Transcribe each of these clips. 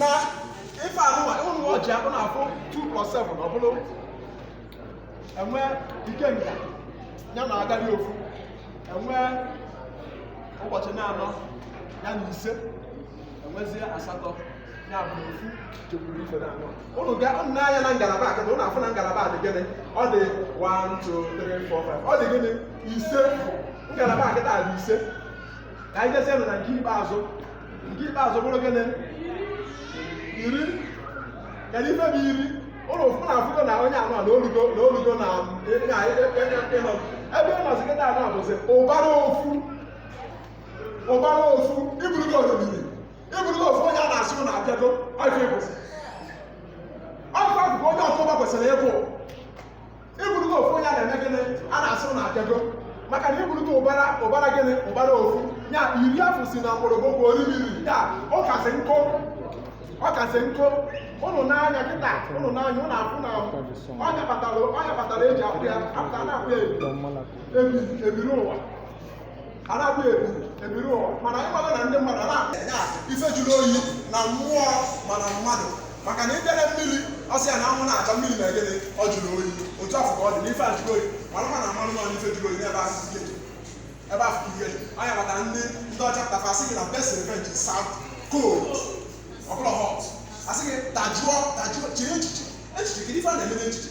na ife anụwa ụlọ ọjị ụnụ afụ 2 plus 7 ọ bụrụ enwe ikenga ya na agali ofu enwe ụbọchị na-anọ ya na ise enwezie asatọ ya bụ ofu jekwuru ife na anọ ụnụ ga ụnụ nee anya na ngalaba a kịta ụnụ afụ na ngalaba a dị gịnị ọ dị 1 2 3 4 5 ọ dị gịnị ise ngalaba a kịta dị ise ka anyị jezienụ na nke ikpeazụ nke ikpeazụ bụrụ gịnị iri kedu ife bụ iri ụlọ ụfụ na afụgo na onye anọ na olugo na olugo na ịna ịnọ ebe ị nọzi kịta anọ bụzi ụbara ofu ụbara ofu ịbụrụgo oriri ịbụrụgo ofu onye a na-asị na abịago ọjị bụzi ọjị afụgo onye ọkụba kwesịrị ịbụ ịbụrụgo ofu onye a na-eme gịnị a na-asụ na abịago maka na ịbụrụgo ụbara ụbara gịnị ụbara ofu ya iri afụ si na mgbọrọgwụ bụ oribiri ya ọ kasị nkụ ọ kasị nkụ ụnụ nee anya kịta ụnụ nee anya ụnụ afụ na ọ nya kpatara ọ nya kpatara eji akwụ ya apụta na-akwụ ya ebi ebiri ụwa a na-abụ ebu ebiri ụwa mana anyị mara na ndị mmadụ na ife jụrụ oyi na mmụọ mana mmadụ maka na ịbịara mmiri ọsị ya na anwụ na-acha mmiri na egede ọ jụrụ oyi otu afụ ka ọ dị n'ife a jụrụ oyi mana mana mmanụ mmanụ ife jụrụ oyi n'ebe ahụ ike ebe ahụ ike nya kpata ndị ndị ọcha tafa sị gị na best revenge is served cold ọ bụrọ hot asị gị dajụọ dajụọ chiri echiche echiche kedu ife a na-eme n'echiche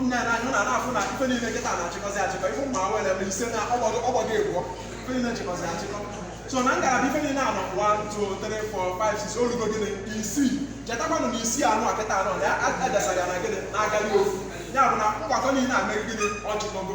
nna na anyị na na-afụ na ife niile kịta na-achịkọzi achịkọ ife ụmụ awere ebe ise na ọgbọdọ ọgbọdọ egwuọ ife niile chịkọzi achịkọ so na ngalaba ife niile anọ 1 2 3 4 5 6 olugo gịnị isii chetakwanụ na isii anụwa kịta anọ na ya adasara ya na gịnị na agali ofu ya bụ na mgbakọ niile a mere gịnị ọ chịkọgo